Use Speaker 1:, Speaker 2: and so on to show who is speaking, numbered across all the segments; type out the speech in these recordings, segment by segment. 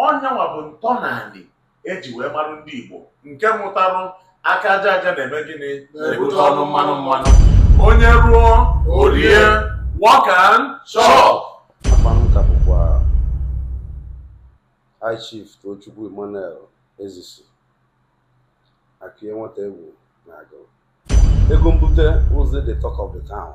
Speaker 1: ọnyanwa bụ ntọnanị eji wee marụ ndị Igbo nke mụtarụ aka aja aja na-eme gịnị na-ebute ọnụ mmanụ mmanụ onye rụọ o rie work and chop akpanụka
Speaker 2: bụkwa high chief Tochukwu Emmanuel Ezisi Akụyie nwata egwu na Agụlụ ego mbute ụzọ the talk of the town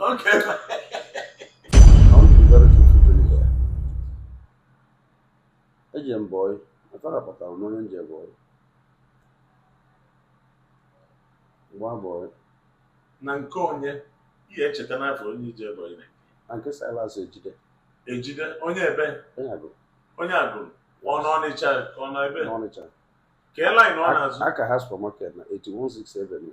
Speaker 2: Okay. eji m bọị atara kpatara m onye nje bọị gba bọị na
Speaker 1: nke onye ihe echeta n'afọ onye ije bọị na na nke
Speaker 2: Silas Ejide
Speaker 1: Ejide onye ebe onye
Speaker 2: Agụlụ onye
Speaker 1: Agụlụ ọ nọ Ọnịcha ọ nọ ebe n'Ọnịcha
Speaker 2: kee laịn
Speaker 1: ọ na-azụ aka ha supermarket na
Speaker 2: 8167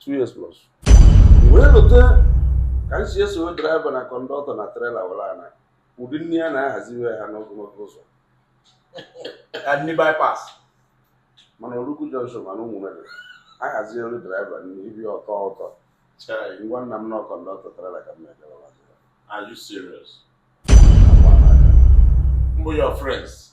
Speaker 3: two
Speaker 2: years plus wee lọta ka m si esowe draiva na kọndọktọ na trela were ana ụdị nne ya na-ahaziwe ha n'ogologo ụzọ
Speaker 3: ka ndị bypass mana
Speaker 2: Oluku junction mana ụmụnne ahazi elu draiva na Ibeto Chai, ngwa nna m na kọndọktọ trela ka m na-ejewa are you
Speaker 1: serious? Who are your friends?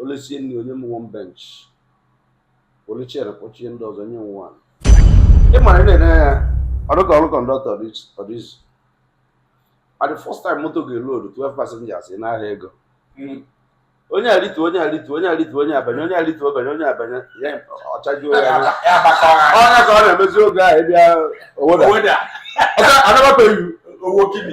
Speaker 1: o lisie
Speaker 2: nri o nye m one bench were chere kpọchie ndị ọzọ nye nwa ị mara na-enye ya ọdụka ọrụ kọndọktọ ọdịzi at the first time moto ga-elodu 12 passengers ị na-ahịa ego hmm. onye arịtu onye arịtu onye arịtu onye abanye onye arịtu ọ banye onye abanye ya ọ chajuo ya onye ka ọ na-emezi oge ahụ ịbịa owoda anababeghị owo kini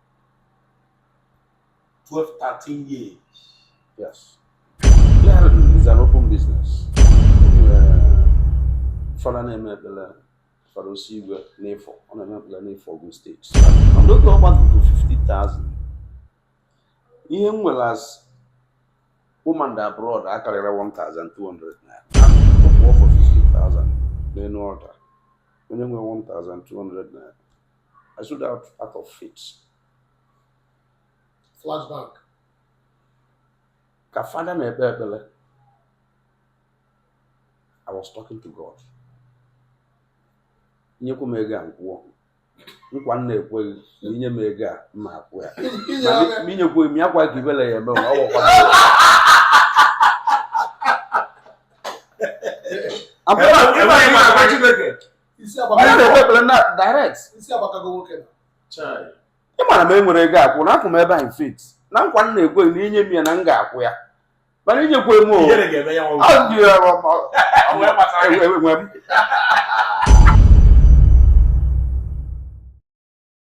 Speaker 3: 12, 13 years.
Speaker 2: Yes. Clearing, it's an open business. Fada na-eme ekpere Fada Osigwe n'Ifo ọ na-eme ekpere n'Ifo Ogun steeti. Ndị oge ọgba bụ 50,000. Ihe m nwere as home and abroad akarịrọ 1,200 naira. Ọ bụ ọfọ 50,000 n'elu altar. Onye nwere 1,200 naira. I sowed out out of
Speaker 3: faith.
Speaker 2: Flashback. Ka fada na-ekpe ekpere. I was talking to God. Nyekwa m ego a m kwụọ. Nkwa m na-ekwe gị na i nye m ego a m ma-akwụ ya. Ma i nyekwa m ya kwa ka ibele ya eme ọ gwakwa. I'm onye na-ekpe ekpere na direct ị ma na m enwerọ ego akwụ na akwụ m ebe a in faith na nkwa m na-ekwe na i nye m ya na m ga-akwụ ya mana i nyekwa m o enwe m